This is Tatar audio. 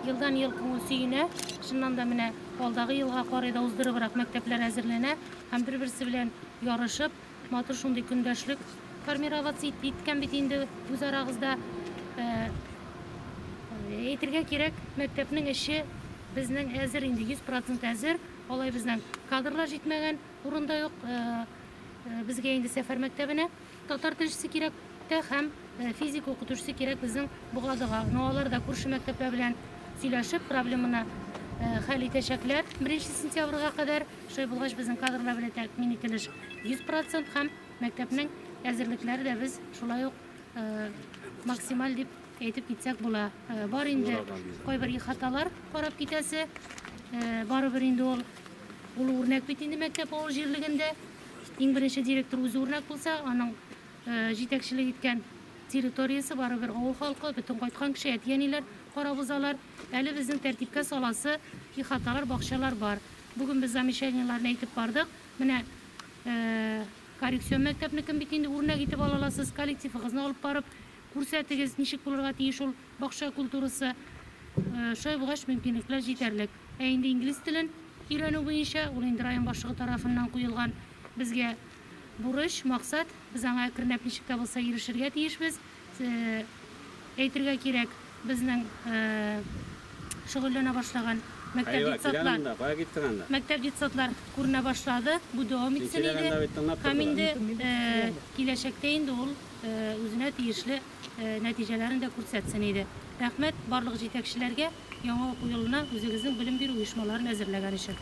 Елдан-ел күңел сөенә. Чыннан да, менә алдагы елга карый да уздырыбрак мәктәпләр әзерләнә һәм бер-берсе белән ярышып, матур шундый көндәшлек формироваться ит, иткән бит инде үзарагызда. Э, әйтергә кирәк, мәктәпнең эче безнең әзер инде, 100% әзер. Алай безнең кадрлар җитмәгән урында юк. Э, э, безгә инде сәфәр мәктәбенә Татар телчесе кирәк тә һәм физика укытучысы кирәк безнең Богадага. Ну алар да күрше мәктәпләр белән сөйләшеп, проблеманы хәл итәчәкләр. Беренче сентябрьга кадәр шулай булгач безнең кадрлар белән тәэмин ителеш 100% һәм мәктәпнең әзерлекләре дә без шулай ук максималь дип әйтеп китсәк була. Бар инде кайбер ихаталар карап китәсе. Барыбер инде ул ул үрнәк бит инде мәктәп авыл җирлегендә. Иң беренче директор үзе үрнәк булса, аның җитәкчелек иткән территориясе барыбер авыл халкы, бөтен кайткан кеше, әти-әниләр карап узалар. Әле безнең тәртипкә саласы ихаталар, бакчалар бар. Бүген без замечаниеләрне әйтеп бардык. Менә коррекцион мәктәпнекен бит инде үрнәк итеп ала аласыз. Коллективыгызны алып барып, Күрсәтегез, ничек булырга тиеш ул бакча культурасы? Шулай булгач, мөмкинлекләр җитәрлек. Ә инде инглиз телен өйрәнү буенча, ул инде район башлыгы тарафыннан куелган безгә бурыч, максат. Без аңа әкренләп ничек тә булса ирешергә тиешбез. Әйтергә кирәк, безнең шөгыльләнә башлаган мәктәп детсадлар, мәктәп детсадлар күренә башлады. Бу дәвам итсен иде. Һәм инде киләчәктә инде ул үзенә тиешле нәтиҗәләрен дә күрсәтсен иде. Рәхмәт барлык җитәкчеләргә яңа уку елына үзегезнең белем бирү оешмаларын әзерләгән өчен.